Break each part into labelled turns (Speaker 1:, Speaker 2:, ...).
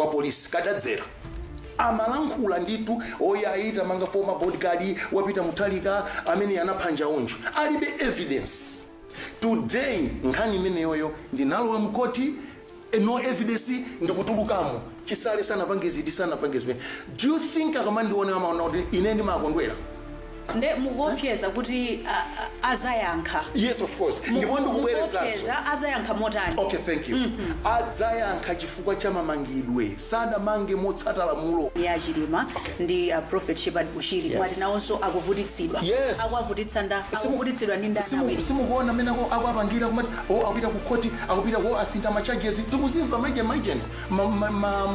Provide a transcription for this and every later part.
Speaker 1: kwa police kadadzera amalankhula ndithu oyayi tamanga former bodyguard wapita muthalika amene anapha njaunju alibe evidence today nkhani imeneyoyo ndinalowa mkhoti eh, no evidence ndikutulukamo chisale sanapange ziti sanapange zimene do you think akamandiona amaona kuti ine ndimakondwera
Speaker 2: nde mukuopseza kuti a- a- adzayankha yes of
Speaker 1: course ndipo Muku- ndikubwerezanso mukuopseza adzayankha
Speaker 2: motani okay thank
Speaker 1: you adzayankha chifukwa cha mamangidwe sadamange motsata lamulo a chilima
Speaker 2: ndi a prophet shepherd bushiri Yes. mwati nawonso akuvutitsidwa Yes. akuwavutitsa ndani Simu- akuvutitsidwa ndi ndani simu- awiri simukuona amene
Speaker 1: ako- akuapangira kumati o akupita ku khoti akupita ko asintha machaji tikuzimva mujeni mujeni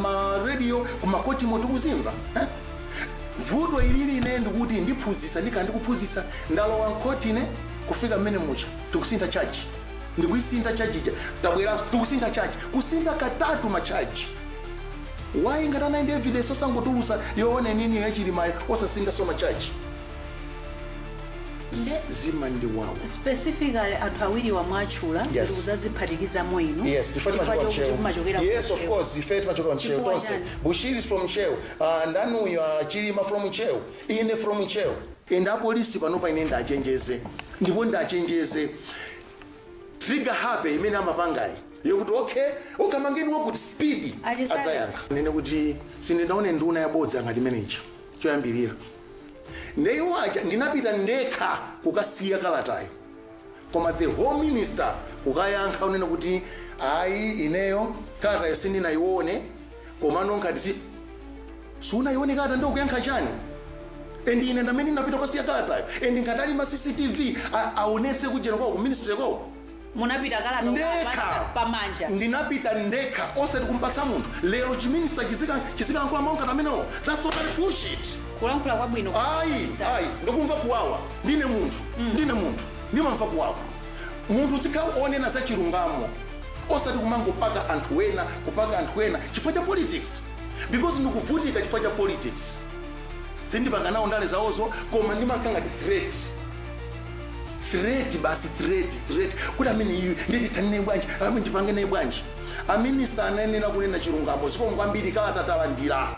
Speaker 1: maradio kumakhotimo tikuzimva eh? vuto ilili ine ndikuti ndiphunzitsa ndikhala ndikuphunzitsa ndalowa mkhoti ine kufika mmene mucha tikusintha chaji ndikuyisintha chaji ija tabweranso tikusintha chaji kusintha katatu machaji why ngati anali ndi evidence osangotulutsa yoona inini yachilimayo osasinthanso machaji Nde- zimandiwawa specifically
Speaker 2: anthu awiriwa mwatchula Yes. ndikudzadziphatikizamo inu yes chifukwa chifukwa chimachokera chokuti ntcheu
Speaker 1: mumachokera ku yes of Ntcheu. course ife timachokera ntcheu Chifukwa tonse chani? bushiri is from ntcheu Ah ndani uyu ah chilima from ntcheu ine from ntcheu. And apolisi panopa ine ndiwachenjeze ndipo ndiwachenjeze trigger happy imene amapangayi yokuti okay kamangeni wakuti speed A Chisale. adzayankha ndinene kuti sindinaone nduna yabodza ngati imeneja choyambirira nde iwo aja ndinapita ndekha kukasiya kalatayo koma the whole minister kukayankha kunena kuti ayi ineyo kalatayo sindinaione komano ngati sunaione kalata nde ukuyankha chani and ine ndamene ndinapita kukasiya kalatayo and ngati ali ndi ma cctv a- aonetse kujeni kwako ku ministry kwako munapita
Speaker 2: kalata ndekha kukapatsa pamanja ndinapita
Speaker 1: ndekha osati kumpatsa munthu lero chiminista chizikalankhula mawu ngati amenewo that's totally bullshit kulankhula kwabwino
Speaker 2: ayi ayi
Speaker 1: ndikumva kuwawa ndine munthu ndine munthu ndimamva kuwawa munthu uzikhala wonena za chilungamo osati kumangopaka anthu ena kupaka anthu ena chifukwa cha politics because ndikuvutika chifukwa cha politics sindipanga nawo ndale zawozo koma ndimakhala ngati threat threat basi threat threat kuti ameneyu tithane naye bwanji ameneyu tipange naye bwanji aminista anayenera kunena chilungamo zikomo kwambiri kalata talandira